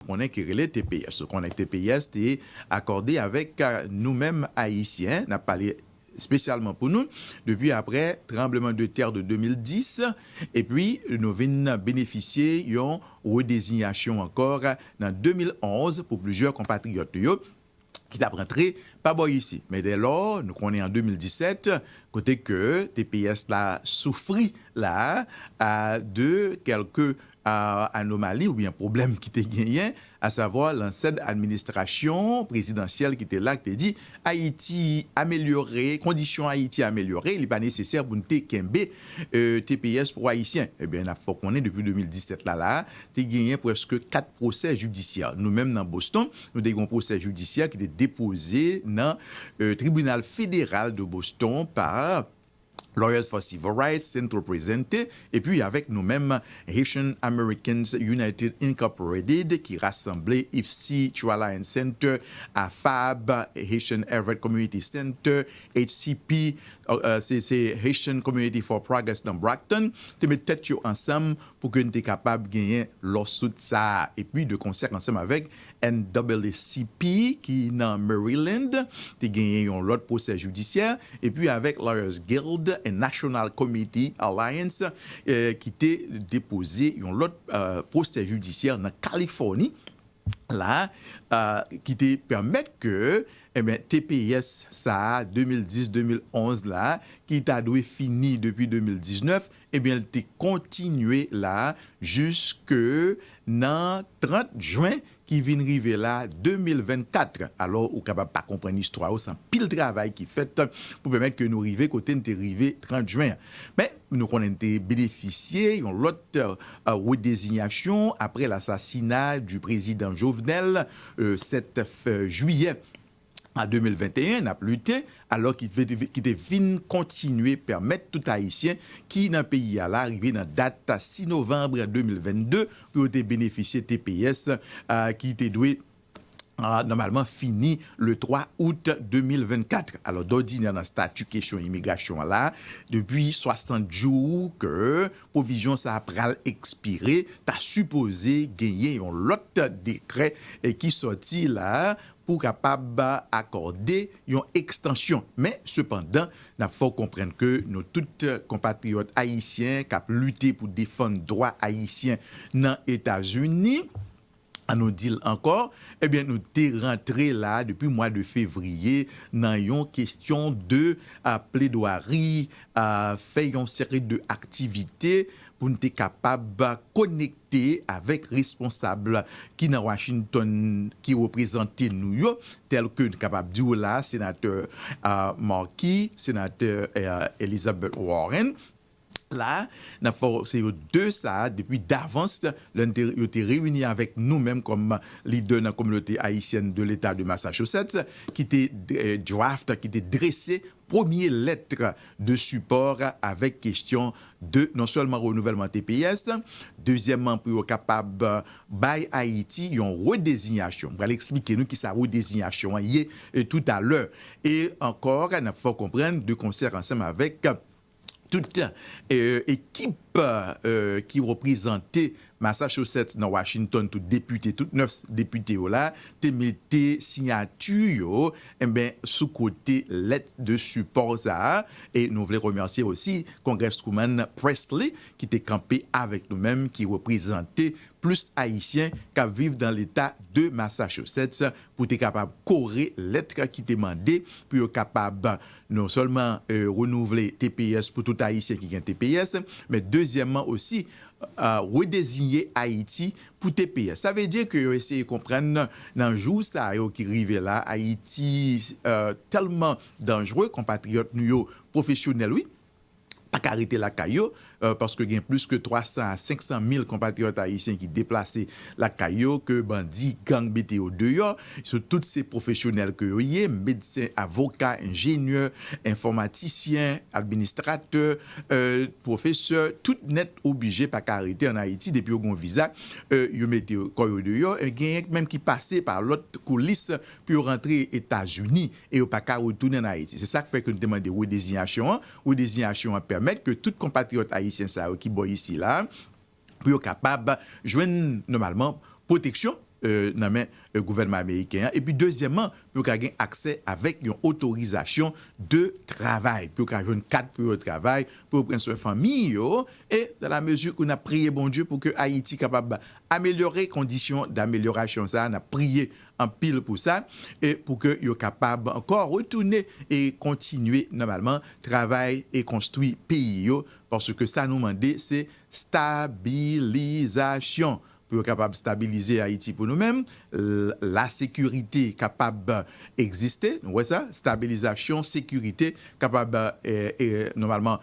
konnen ki rele tps. Ou konnen tps te akòde avèk nou menm Ayisyen, n ap pale espesyalman pou nou, depi apre tranbleman de tè de 2010, epi nou vin benefisye yon redezinyasyon ankò nan 2011 pou plizyè konpatriyòt nou yo, ki tap rantre pa bò isi. Men dè lò nou konnen an 2017 kote ke tps la soufri la a de kèlke anomali oubyen pwoblèm ki te genyen a savwa lansèd administrasyon prezidansyèl ki te la ki te di Ayiti amelyore, kondisyon Ayiti amelyore li pa nesesè pou n te kenbe tps pou ayisyen. Ebyen nap fè w konnen depi 2017 la la a te genyen prèske 4 pwosè jidisyè. Nou menm nan Boston Nou te gen yon pwosè jidisyè ki te depoze nan Tribinal Federal de Boston pa Lawyers for Civil Rights, Centro Presente, epi avèk nou menm Haitian Americans United Incorporated ki rasanble IFCI, True Alliance Center, AFAB, Haitian Everett Community Center, HCP, se Haitian Community for Progress nan Brockton, te met tèt yo ansanm pou ke n te kapab genyen lawsuit sa a, epi de konsè ansanm avèk NAACP ki nan Maryland, te genyen yon lòt pwosè jidisyè, epi avèk Lawyers Guild and National Committee Alliance ki te depoze yon lòt pwosè jidisyè nan Kalifòni la ki te pèmèt ke tps sa a 2010-2011 la ki ta dwe fini depi 2019 Ebyen l te kontinye la jiske nan 30 jen ki vin rive la 2024. Alò ou kapab pa konprann istwa yo, se anpil travay ki fèt pou pèmèt ke nou rive kote n te rive 30 jen an. Men nou konnen n te benefisye yon lòt redezinyasyon apre lasasina di prezidan Jovenel 7 jiyè an 2021 nap lite alò ki te vin kontinye pèmèt tout ayisyen ki nan peyi a la rive nan dat 6 novanb 2022 pou yo te benefisye tps ki te dwe nòmalman fini le 3 out 2024. Alò dòdinè nan stati kesyon imigrasyon an la depi 60 jou ke pwovizyon sa a pral ekspire ta sipoze genyen yon lòt dekrè ki sòti la pou w kapab akòde yon ekstansyon. Men, sepandan, n ap fè w konprann ke nou tout konpatriyòt ayisyen k ap lite pou defann dwa ayisyen nan Etazini, an nou di l ankò, ebyen nou te rantre la depi mwa de fevriye nan yon kestyon de pledwari, fè yon seri de aktivite pou n te kapab konekte. te avèk responsab ki nan Washington ki reprezante nou yo, tèlke n kapab di w la a Senatè Markey, Senatè Elizabeth Warren, la a n ap fè w se yo 2 sa a depi davans lè n te yo te reyini avèk nou menm kòm lidè nan kominote ayisyèn de leta de Massachusetts ki te draft, ki te drese premye lettre de support avèk kestyon de non sèlman renouvèlman tps, dezyèmman pou yo kapab bay Ayiti yon redezinyasyon. M pral eksplike nou kisa redezinyasyon an ye toutalè. E ankò, n ap fè w konprann de konsè ansanm avèk Tout ekip ki reprezante Massachusetts nan Washington, tout depite, tout 9 depite yo la, te mete siyati yo sou kote lèt de sipò sa a. E nou vle remèsye osi Congresswoman Pressley ki te kanpe avèk nou menm, ki reprezante plis Ayisyen k ap viv nan leta de Massachusetts pou te kapab kore lèt ki te mande pou yo kapab Non sèlman renouvle tps pou tout Ayisyen ki gen tps, men dezyèmman osi redezinye Ayiti pou tps. Sa vle di ke yo eseye konprann nan jou sa yo ki rive la, Ayiti tèlman danjre, konpatriyòt nou yo pwofesyonèl wi, pa ka rete lakay yo, paske gen plis ke 300 a 500 mil konpatriyòt ayisyen ki deplase lakay yo, ke bandi gang mete yo deyò, yo tout se pwofesyonèl ke yo ye, medsen, avoka, enjenyè, enfòmatisyen, administratè, pwofesè, tout nèt oblije pa ka rete an Ayiti, depi yo gen yon viza, yo mete kò yo deyò, genyen menm ki pase pa lòt koulis pou yo rantre Etazini. e yo pa ka retounen ann Ayiti. Se sa k fè ke nou te mande redezinyasyon an. Redezinyasyon an pèmèt ke tout konpatriyòt ayisyen sa yo ki bò isi la a, pou yo kapab jwenn nòmalman pwoteksyon nan men gouvènman ameriken an, epi dezyèmman, pou yo ka gen aksè avèk yon otorizasyon de travay, pou yo ka jwenn kat pou yo travay, pou yo pran swen fanmi yo, e dan la mezi ke n ap priye Bondye pou ke Ayiti kapab amelyore kondisyon damelyorasyon sa a, n ap priye anpil pou sa e pou ke yo kapab ankò retounen e kontinye nòmalman travay e konstwi peyi yo paske sa nou mande se stabilizasyon pou yo kapab stabilize Ayiti pou nou menm lasekirite kapab egziste nou wè sa stabilizasyon sekirite kapab nòmalman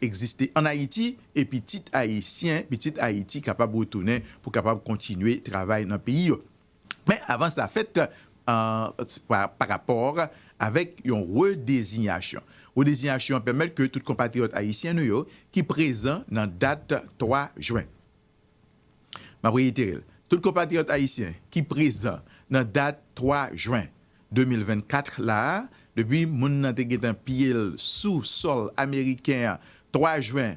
egziste an Ayiti e pitit ayisyen pitit Ayiti kapab retounen pou kapab kontinye travay nan peyi yo. Men avan sa fèt pa rapò avèk yon redezinyasyon. Redezinyasyon an pèmèt ke tout konpatriyòt ayisyen nou yo ki prezan nan dat 3 jwen. M ap reyitere l, tout konpatriyòt ayisyen ki prezan nan dat 3 jwen 2024 la, depi moun nan te gentan piye l sou sòl ameriken an 3 jwen,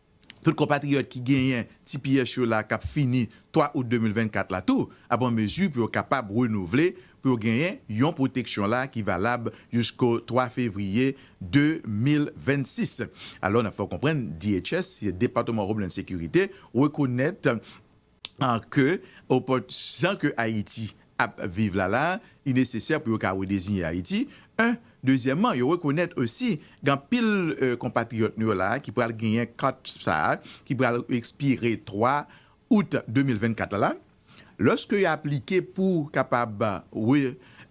Tout konpatriyòt ki genyen tps yo la k ap fini 3 out 2024 la tou ap an mezi pou yo kapab renouvle pou yo genyen yon pwoteksyon la ki valab jisko 3 fevriye 2026. Alò, n ap fè w konprann DHS, Department of Homeland Security, rekonèt. ke opòt jan ke Ayiti ap viv la la, li nesesè pou yo ka redeziyen Ayiti, 1, dezyèmman yo rekonèt osi gen anpil konpatriyòt nou yo la a ki pral genyen kat sa a ki pral ekspire 3 out 2024 la la, lòske yo aplike pou kapab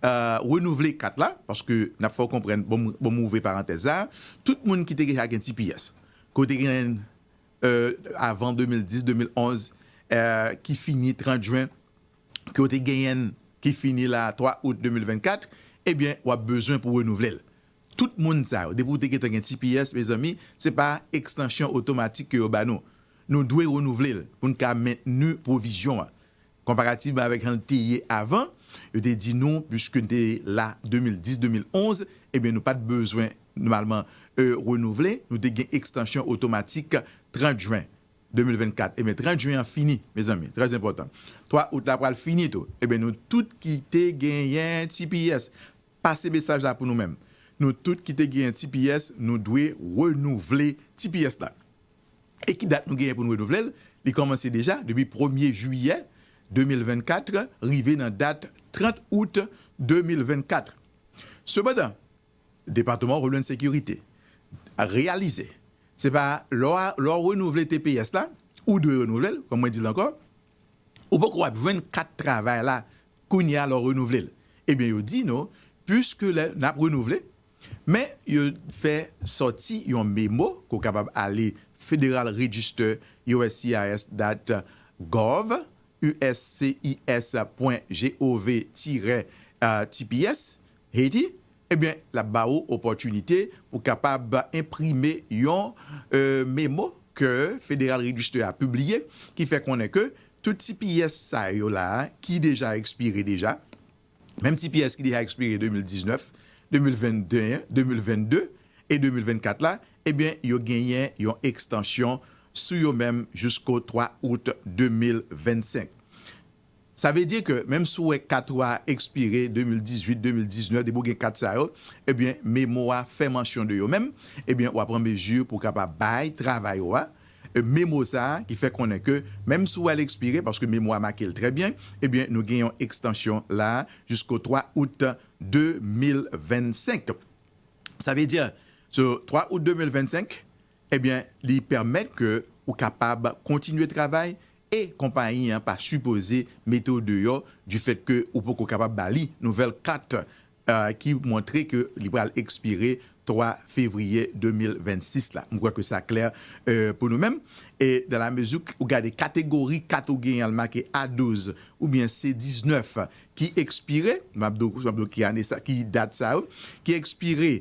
renouvle kat la, paske n ap fè w konprann, bon m ouvri parantèz sa a, tout moun ki te deja gen tps, ke w te genyen avan 2010, 2011, ki fini 30 jwen, ke w te genyen l ki fini la 3 out 2024, ebyen w ap bezwen pou renouvle l. Tout moun sa yo, depi w te gen tan gen tps, mezanmi, se pa ekstansyon otomatik ke yo ba nou. Nou dwe renouvle l pou n ka mentni pwovizyon an. Konparativman avèk jan l te ye avan, yo te di nou puiske n te la 2010, 2011, ebyen nou pa t bezwen nòmalman renouvle, nou te gen ekstansyon otomatik 30 jen 2024. Ebyen 30 jen an fini mezanmi, trè enpòtan. 3 out la pral fini tou. Ebyen nou tout ki te genyen tps, pase mesaj la pou nou menm. Nou tout ki te genyen tps, nou dwe renouvle tps la. e ki dat nou genyen pou n renouvle l, li kòmanse deja depi premye jiyè 2024 rive nan dat 30 out 2024. Sepandan, Depatman w Homeland Security reyalize se pa lè w renouvle tps la, ou dwe renouvle l, kòm mwen di l ankò, ou poko ap jwenn kat travay la kounye a lè w renouvle l. Ebyen yo di nou, piske lè n ap renouvle, Men, yo fè sòti yon memo ke w kapab ale Federal Register, uscis. Dat. Gov, uscis. Pwen gov tirè tps, Haiti, ebyen l ap ba ou opòtinite pou w kapab enprime yon memo ke Federal Register a pibliye ki fè konnen ke tout tps sa yo la ki deja ekspire deja, Menm ti pyès ki deja ekspire 2019, 2021, 2022 e 2024 la, ebyen yo genyen yon ekstansyon sou yo menm jisko 3 out 2025. Sa vle di ke menm si w wè kat ou a ekspire 2018, 2019, depi w gen kat sa yo, ebyen memo a fè mansyon de yo menm, ebyen w a pran mezi pou w kapab bay travay ou a E me mo sa a ki fè konnen ke menm si ou al ekspire, paske me mo a make l trè byen, ebyen nou gen yon ekstansyon la a jisko 3 out 2025. Sa vle di, so 3 out 2025, ebyen li pèmèt ke ou kapab kontinye travay e konpayi an pa sipoze mete w deyò difèt ke ou poko kapab ba li nouvèl kat ki montre ke li pral ekspire 3 fevriye 2026 la. M kwè ke sa klè pou nou menm. E dan la mezi ou gade kategori kat ou genyen al make A-12 oubyen C-19 ki ekspire, m ap di w ki ane sa, ki dat sa yo, ki ekspire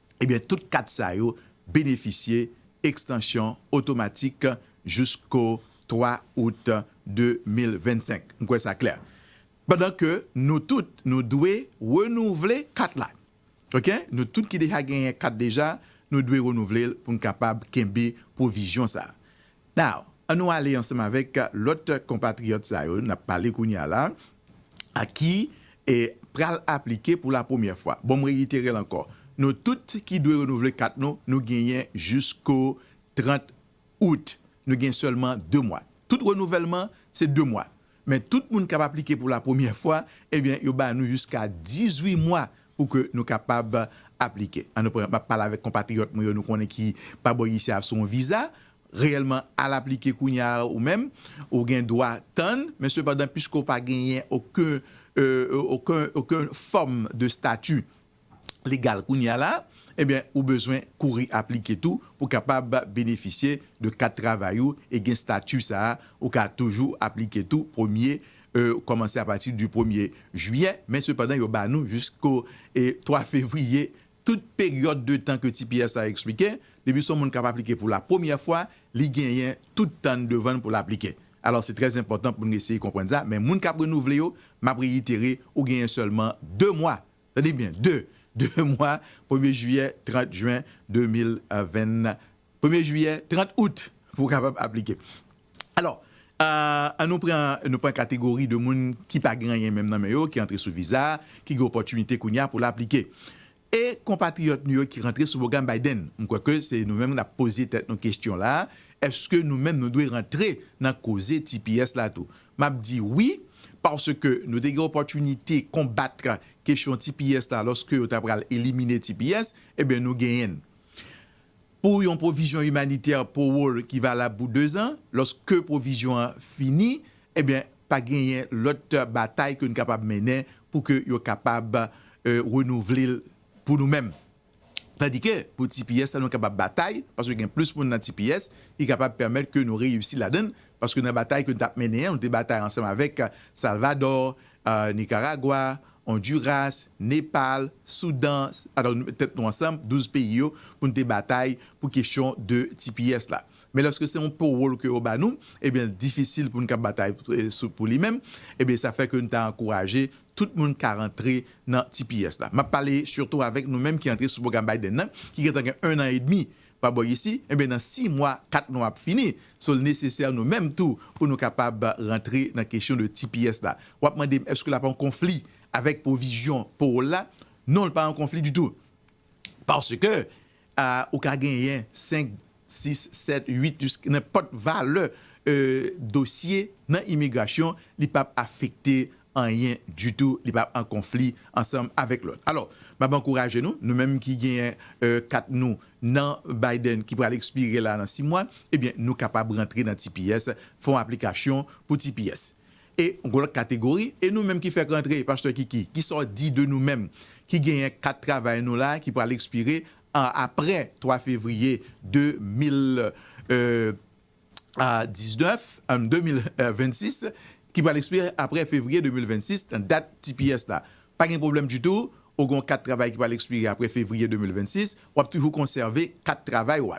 Ebyen tout kat sa yo benefisye ekstansyon otomatik jousko 3 out 2025. M kwè sa klè. Pandan ke nou tout nou dwe renouvle kat la. Ok nou tout ki deja genyen kat deja nou dwe renouvle l pou n kapab kenbe pwovizyon sa. Now, an nou ale ansanm avèk lòt konpatriyòt sa yo n ap pale kounye a la a ki pral aplike pou la premyè fwa. Bon m reyitere l ankò, nou tout ki dwe renouvle kat nou, nou genyen jisko 30 out. Nou gen sèlman 2 mwa. Tout renouvèlman se 2 mwa. Men tout moun kap aplike pou la premyè fwa ebyen yo ba nou jiska 18 mwa pou ke nou kapab aplike. An nou pran map pale avèk konpatriyòt mwen yo nou konnen ki pa bò isit a sou yon viza, reyèlman al aplike kounya ou menm ou gen dwa tann men sepandan piske ou pa genyen oken oken oken fòm de stati legal kounye a la, ebyen ou bezwen kouri aplike tou pou kapab benefisye de kat travay ou e gen stati sa a. Ou ka toujou aplike tou premye kòmanse apati di premye jiyè, men sepandan yo ba nou jisko 3 fevriye tout peryòd de tan ke tps la eksplike. Depi son moun kap aplike pou la premyè fwa, li genyen tout tan n devan n pou l aplike. Alò se trè enpòtan pou n eseye konprann sa, men moun kap renouvle yo, map reyitere ou genyen sèlman 2 mwa Tande byen, de de mwa premye jiyè, 30 jen 2020, premye jiyè, 30 out pou w kapab aplike. Alò, an nou pran nou pran kategori de moun ki pa gen anyen menm nan men yo, ki antre sou viza, ki gen opòtinite kounye a pou l aplike. E konpatriyòt nou yo ki rantre sou pwogram Biden? M kwè ke se nou menm n ap poze tèt nou kesyon la a, èske nou menm nou dwe rantre nan koze tps la tou? M ap di wi, paske nou te gen opòtinite konbat kesyon tps la lòske yo ta pral elimine tps, enben nou genyen l. Pou yon pwovizyon imanitè powol ki valab pou dezan, lòske pwovizyon an fini, enben pa genyen lòt batay ke nou kapab mennen pou ke yo kapab renouvle l pou nou menm. Tandike pou tps la nou kapab batay paske gen plis moun nan tps ki kapab pèmèt ke nou reyisi ladann paske nan batay ke nou tap mennen an nou te batay ansanm avèk Salvadò, Nikaragwa, Onduras, Nepal, Soudan, pardon nou met tèt nou ansanm 12 peyi yo pou nou te batay pou kesyon de tps la. Men lòske se yon powol ke yo ba nou ebyen l difisil pou nou kab batay pou li menm ebyen sa fè ke nou ta ankouraje tout moun ka rantre nan tps la. M ap pale sitou avèk nou menm ki antre sou pwogram Biden nan, ki gentan gen ennan edmi pa bò isi, enben nan si mwa, kat mwa ap fini. So l nesesè nou menm tou pou nou kapab rantre nan kesyon de tps la. W ap mande m èske l ap an konfli avèk pwovizyon powol la? Non, l pa an konfli ditou. Paske Ou ka genyen 5, 6, 7, 8 jiska nenpòt valè dosye nan imigrasyon, li p ap afekte anyen ditou, li pa an konfli ansanm avèk lòt. Alò, m ap ankouraje nou, nou menm ki genyen kat nou nan Biden ki pral ekspire la nan 6 mwa, ebyen nou kapab rantre nan tps, fè yon aplikasyon pou tps. e yon lòt kategori e nou menm ki fèk rantre pastè Kiki kisa w di de nou menm ki genyen kat travay nou la ki pral ekspire aprè 3 fevriye 2026 ki pral ekspire aprè fevriye 2026 nan dat tps la pa gen pwoblèm ditou ou gen yon kat travay ki pral ekspire aprè fevriye 2026 w ap toujou konsève kat travay ou a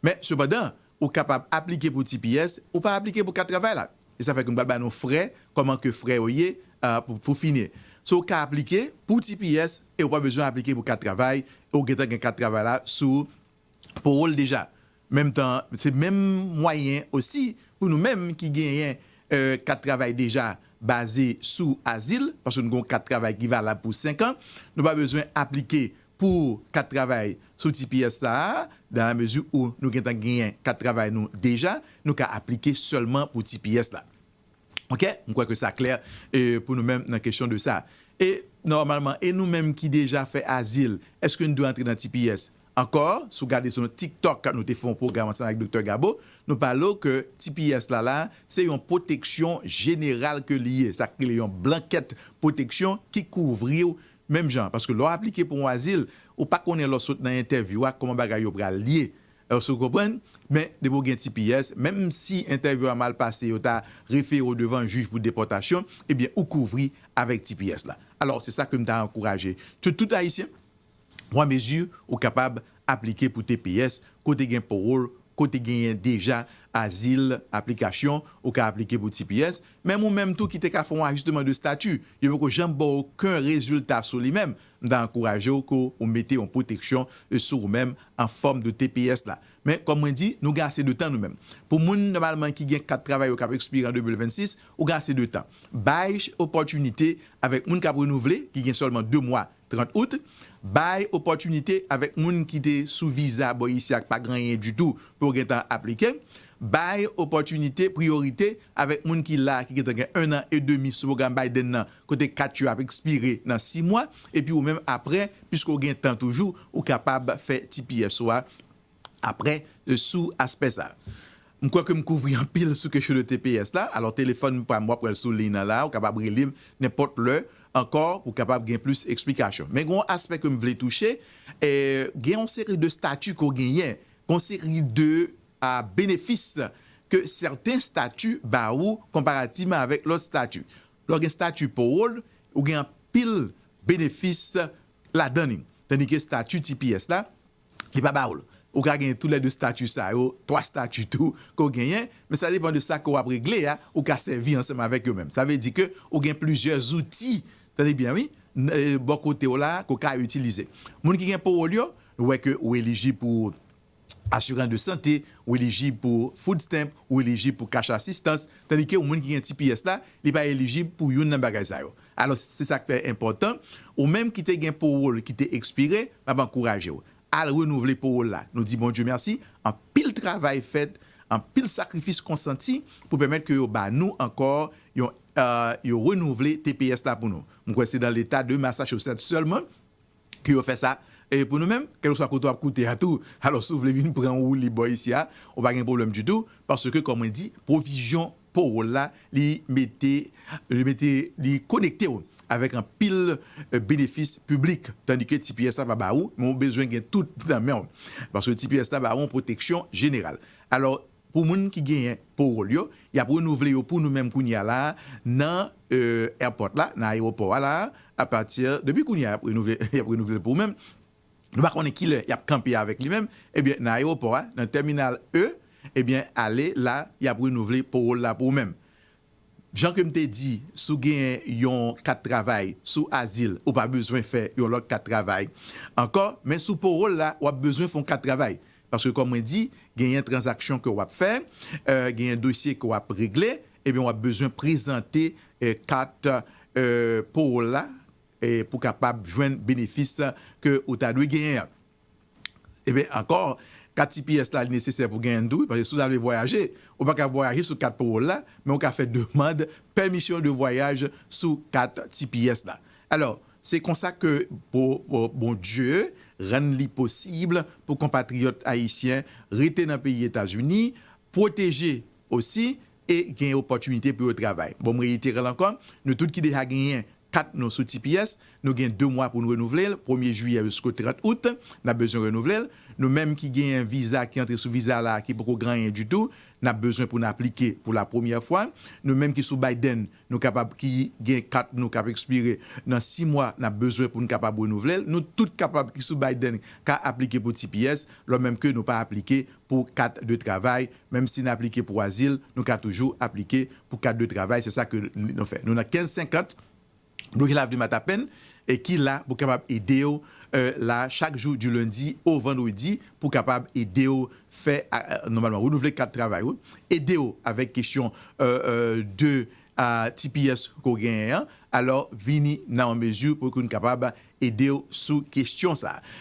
men sepandan ou kapab aplike pou tps ou pa aplike pou kat travay la. e sa fè ke m pral bay nou frè, kòman ke frè yo ye, pou fini. So ou ka aplike pou tps e ou pa bezwen aplike pou kat travay, e ou gentan gen kat travay la sou po ou l deja. Menm tan an, se menm mwayen osi pou nou menm ki genyen kat travay deja baze sou azil, paske nou gen yon kat travay ki valab pou 5 an, nou pa bezwen aplike pou kat travay sou tps sa a, dan la mezi ou nou gentan genyen kat travay nou deja, nou ka aplike sèlman pou tps la. Ok, m kwè ke sa klè pou nou menm nan kesyon de sa. E nòmalman, e nou menm ki deja fè azil, èske n dwe antre nan tps? Ankò, si w gade sou yon tiktok nou te fè yon pwogram ansanm avèk Doktè Gabo, nou pale w ke tps la la, se yon pwoteksyon jeneral ke li ye, sa k rele yon blankèt pwoteksyon ki kouvri w Menm jan, paske lè w aplike pou yon azil, ou pa konnen lè w sot nan entèvyou a kòman bagay yo pral ye. Èske w konprann? Men, depi w gen tps, menm si entèvyou a mal pase, yo ta refere w devan jij pou depòtasyon, ebyen ou kouvri avèk tps la. Alò, se sa ke m ta ankouraje ke tout Ayisyen pran mezi ou kapab Aplike pou tps kote gen pawol kote genyen deja azil aplikasyon ou ka aplike pou tps menm ou menm tou ki te ka fè yon ajisteman de stati yo poko janm baw oken rezilta sou li menm m ta ankourajew ke ou mete yon pwoteksyon sou ou menm an fòm de tps la men kòm mwen di nou gen ase de tan nou menm pou moun nòmalman ki gen kat travay yo kap ekspire an 2026 ou gen ase de tan bay opòtinite avèk moun kap renouvle ki gen sèlman 2 mwa 30 out, bay opòtinite avèk moun ki te sou viza bò isi ak pa ganyen ditou pou yo gentan aplike, bay opòtinite priyorite avèk moun ki la ki gentan gen 1 an e demi sou pwogram Biden nan kote kat yo ap ekspire nan 6 mwa, epi ou menm aprè, piske ou gen tan toujou, ou kapab fè tps ou a. Aprè, sou aspè sa. M kwè ke m kouvri anpil sou kesyon de tps la. Alò, telefòn m pa m, w ap wè l sou liy nan la a, ou kapab rele m nenpòt lè ankò pou w kapab gen plis eksplikasyon. Men gen yon aspè ke m vle touche, gen yon seri de stati ke w genyen, gen yon seri de benefis ke sèten stati ba ou konparativman avèk lòt stati. Lè w gen stati Parole, ou gen anpil benefis ladan li. Tandike stati tps la, Li pa ba ou l. Ou ka genyen tou lè 2 stati sa yo, 3 stati tou ke w genyen, men sa depan de sa ke w ap regle a, ou ka sèvi ansanm avèk yo menm. Sa vle di ke ou gen plizyè zouti, tande byen wi, bò kote w la ke w ka itilize. Moun ki gen powòl yo, nou wè ke ou elijib pou asirans de sante, ou elijib pou food stamp, ou elijib pou cash assistance, tandike moun ki gen tps la, li pa elijib pou youn nan bagay sa yo. Alos se sak fè enpotan, ou menm ki te gen powol ki te ekspire, map ankourajew al renouvle powol la. Nou di Bondye mèsi, anpil travay fèt, anpil sakrifis konsanti pou pèmèt ke yo ba nou anko yon yo renouvle tps la pou nou. M kwè se nan leta de Massachusetts selman pou yo fè sa pou nou menm, kèlkeswa kote w ap koute a tou. Alò, si w vle vin pran yon woulib bò isi a, ou pa gen pwoblèm ditou, paske kòm mwen di, pwovizyon powòl la, li mete, li mete, li konekte w avèk anpil benefis piblik, tandike ti pyès la pa ba ou, men ou bezwen gen tout nan men w, paske ti pyès la ba ou yon pwoteksyon jeneral. Alò. Pou moun ki genyen powol yo, yap renouvle yo pou nou menm kounye a la a nan airport la, nan ayewopò a la a, apati depi kounye a yap renouvle, yap renouvle pou ou menm, nou pa konnen kilè yap kanpe avèk li menm, ebyen nan ayewopò a, nan terminal E, ebyen ale la yap renouvle powol la pou ou menm. Jan ke m te di, si w genyen yon kat travay sou azil, ou pa bezwen fè yon lòt kat travay ankò, men sou powòl la, w ap bezwen fè yon kat travay. Paske kòm mwen di, genyen tranzaksyon ke w ap fè, genyen dosye ke w ap regle, ebyen w ap bezwen prezante kat powòl la pou kapab jwenn benefis ke ou ta dwe genyen an. Ebyen ankò kat tps la li nesesè pou genyen tou wi paske si w ta vle vwayaje ou pa ka vwayaje sou kat powol la men ou ka fè demand pèmisyon de vwayaj sou kat tps la alò se konsa ke Bondye rann li posib pou konpatriyòt ayisyen rete nan peyi etazini pwoteje osi e genyen opòtinite pou yo travay. Bon m reyitera l ankò, nou tout ki deja genyen kat nou sou tps, nou gen 2 mwa pou n renouvle l, premye jiyè jisko 30 out, n ap bezwen renouvle l. Nou menm ki genyen viza, ki antre sou viza la a, ki poko gran anyen ditou, n ap bezwen pou n aplike pou lapremyè fwa. Nou menm ki sou Biden, Nou kapab ki gen kat nou k ap ekspire nan si mwa n ap bezwen pou n kapab renouvle l. Nou tout kapab ki sou Biden ka aplike pou tps lò menm ke nou pa aplike pou kat de travay. Menm si n aplike pou azil, nou ka toujou aplike pou kat de travay. Se sa ke nou fè. Nou nan 15 50 Bloke Lavni Matapen e ki la pou kapab ede w la chak jou di lendi o vandredi pou kapab ede w fè nòmalman renouvle kat travay ou, ede w avèk kesyon de tps ke w genyen an, alò vini nan yon mezi pou yo kapab ede w sou kesyon sa.